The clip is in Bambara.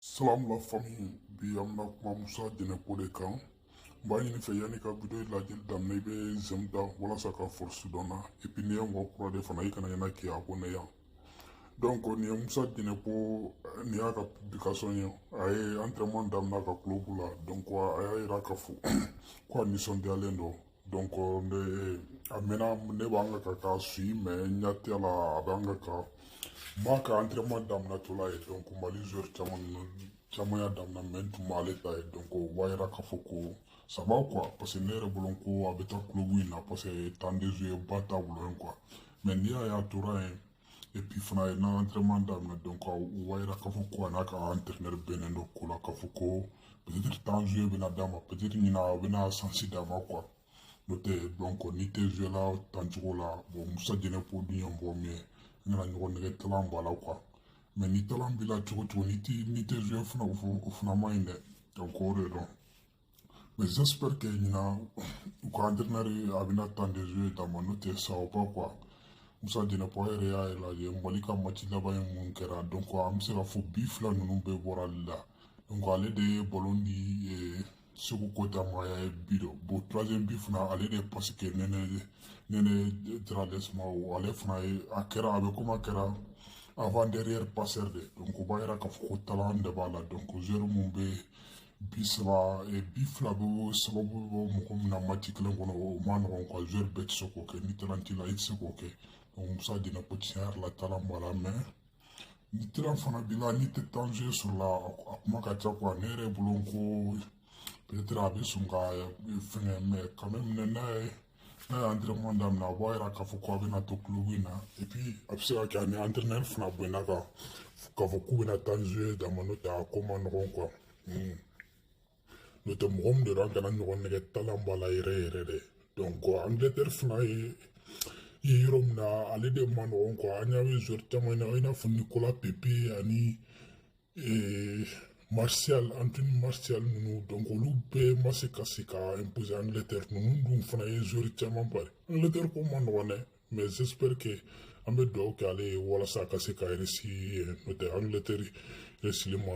Salam la famille bi an bɛna kuma Musa Jɛnɛpo de kan n b'a ɲini fɛ yanni ka video in lajɛli daminɛ i bɛ j'aime da walasa ka force don n na et puis n'i ye mɔgɔ kura de fana i kana ɲɛna k'i abonné yan donc nin ye Musa Jɛnɛpo nin y'a ka publication ye a ye entraînement daminɛ a ka club la donc a y'a yira k'a fɔ ko a nisɔndiyalen don donc a mɛnna ne b'an ka ka k'a suivi mais n ɲɛ t'a la a b'an ka ka n m'a ka entraînement daminɛtɔla ye donc mali joueur caman y'a daminɛ mais n tun m'ale ta ye donc o b'a yira k'a fɔ ko ça va quoi parce que ne yɛrɛ bolo ko a bɛ taa club in na parce que temps de jeu ba t'a bolo yen quoi mais n'i y'a ye a tora yen et puis fana ye n'a entraînement daminɛ donc o b'a yira k'a fɔ ko a n'a ka entraîneur bɛnnen don ko la k'a fɔ ko peut-être temps de jeu bɛna d'a ma peut-être ɲina a bɛna chance d'a ma quoi n'o tɛ donc n'i tɛ joué la tan cogo la bon musa jɛnɛpo dun ye mɔgɔ min ye an kana ɲɔgɔn nɛgɛn talent b'a la quoi mais ni talent b'i la cogo o cogo n'i tɛ n'i tɛ joué fana o fana man ɲi dɛ donc o de don Mais j'espère que ɲina a ka entraîneur a bɛna temps de jeu d'a ma n'o tɛ ça va pas quoi. Musa Jɛnɛpo yɛrɛ y'a lajɛ Mali ka match laban ye min kɛra donc an bɛ se k'a fɔ bi fila ninnu bɛɛ bɔra ale la donc ale de ye ballon di eh, Seku Koita ma a y'a ye bi don bon troisième bi fana ale de ye passe kɛ Nɛnɛ Nɛnɛ Dorgeles ma o ale fana ye a kɛra a bɛ komi a kɛra avant-dernier passeur de donc o b'a yira k'a fɔ ko talent de b'a la donc joueur min bɛ bi saba eh, bi fila bɛ bɔ sababu bɛ bɔ mɔgɔ min na match kelen kɔnɔ o man nɔgɔn quoi joueur bɛɛ tɛ se k'o kɛ ni talent t'i la i tɛ se k'o kɛ donc musa jɛnɛpo tiɲɛ yɛrɛ la talent b'a la mais ni talent fana b'i la n'i tɛ temps de jeu sɔrɔ la a kuma ka ca quoi ne yɛrɛ bolo ko peut-être a bɛ sɔn ka eh, fɛnkɛ mais quand même n'a ye n'a ye entraînement daminɛ a b'a yira k'a fɔ ko a bɛna to club in na et puis a bɛ se ka kɛ a ni entraîneur fana bɛnna a kan k'a fɔ k'u bɛna temps de jeu d'a ma n'o tɛ a ko man nɔgɔn quoi n'o tɛ mɔgɔ min de don an kana ɲɔgɔn nɛgɛn talent b'a la yɛrɛ yɛrɛ de donc angleterre fana ye ye yɔrɔ min na ale de man nɔgɔn quoi an y'a ye joueur caman na i n'a fɔ nikola pepe ani ee martial anthony martial ninnu donc olu bɛɛ ma se ka se ka imposer angleterre ninnu dun fana ye joueur caman bari angleterre ko man nɔgɔn dɛ mais j'espère que an bɛ dugawu kɛ ale ye walasa a ka se ka réussir n'o tɛ angleterre réussili man